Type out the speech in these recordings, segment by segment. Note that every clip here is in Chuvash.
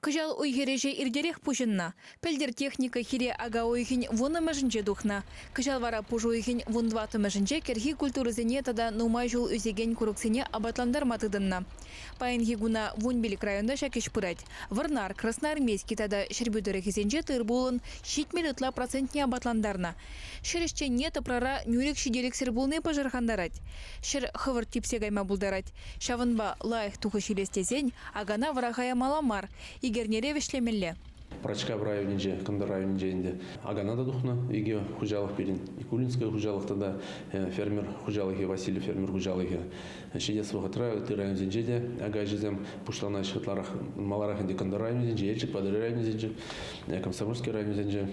Кӑҫал уй-хир ӗҫӗ иртерех пуҫӑннӑ. Пӗлтӗр техника хире ака уйӑхӗн вуннӑмӗшӗнче тухнӑ. Кӑҫал вара пуш уйӑхӗн вун тӑваттӑмӗшӗнче кӗрхи культурӑсене тата нумай ҫул ӳсекен курӑксене апатлантарма тытӑннӑ. Паянхи куна вунпилӗк районта ҫак ӗҫ пырать. Вӑрнар, Красноармейски тата Ҫӗрпӳ тӑрӑхӗсенче тыр-пулӑн ҫитмӗл ытла процентне апатлантарнӑ. Ҫӗр ӗҫченне тӑпрара нӳрӗк ҫителӗксӗр пулни пӑшӑрхантарать. Ҫӗр хӑвӑрт типсе кайма пултарать. Ҫавӑнпа лайӑх тухӑҫ илес тесен Акана вӑраха ямалла мар, ик эрнере вӗҫлемелле. Пӑрачкав районӗнче, кӑнтӑр районӗнче ӗнтӗ Акана та тухнӑ икӗ хуҫалӑх пирӗн, Кулинское хуҫалӑх тата фермер хуҫалӑхӗ, Васильев фермер хуҫалӑхӗ. Ҫитес вӑхӑтра ытти районсенче те ака ӗҫӗсем пуҫланаҫҫӗ ытларах, маларах ӗнтӗ кӑнтӑр районӗсенче, Елчӗк Патӑрьел районӗсенче, Комсомольски районӗсенче.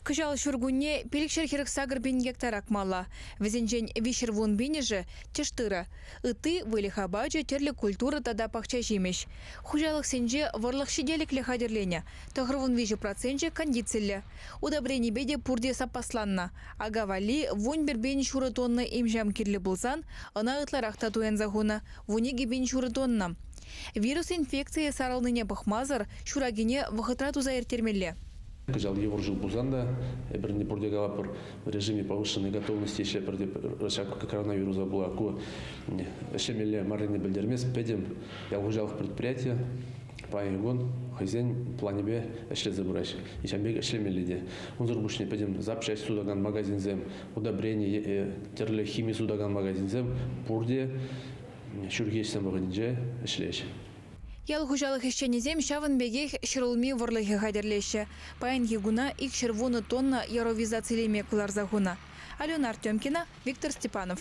Кӑҫал ҫуркунне пилӗк ҫӗр хӗрӗх сакӑр пин гектар акмалла. Вӗсенчен виҫҫӗр вун пинӗшӗ, тӗш тырӑ. ытти выльӑх апачӗ тӗрлӗ культура тата пахча ҫимӗҫ. Хуҫалӑхсенче вӑрлӑх ҫителӗклӗ хатӗрленӗ. Тӑхӑрвун виҫӗ проценчӗ кондициллӗ. Удобренипе те пурте саппасланнӑ. Ака валли вун пӗр пин ҫурӑ тонна им-ҫам кирлӗ пулсан, ӑна ытларах та туянса хунӑ – вун икӗ пин ҫурӑ тонна. Вирус инфекцийӗ сарӑлнине пӑхмасӑр ҫуракине вӑхӑтра туса ирттермелле. Кӑҫал йывӑр ҫул пулсан та Эпир не пурте калӑпӑр в режиме повышенной готовности ӗҫе пӗрте пӗр ҫак коронавируса пула ку ӗҫлемелле маррине пӗлтермест пӗтӗм ял хуҫалӑх предприятийӗ паян кун хӑйсен планӗпе ӗҫлесе пырать. Ҫавӑн пек ӗҫлемелле те. Унсӑр пуҫне пӗтӗм запчаҫ сутакан магазинсем, удобрени е тӗрлӗ хими сутакан магазинсем пурте ҫурхи ӗҫсем вӑхӑтӗнче ӗҫлеҫҫӗ. Ял хуҫалӑх ӗҫченӗсем ҫавӑн пекех ҫӗрулми вӑрлӑхӗ хатӗрлеҫҫӗ. Паянхи куна икҫӗр вунӑ тонна яровизацилеме кӑларса хунӑ. Алена Артемкина, Виктор Степанов.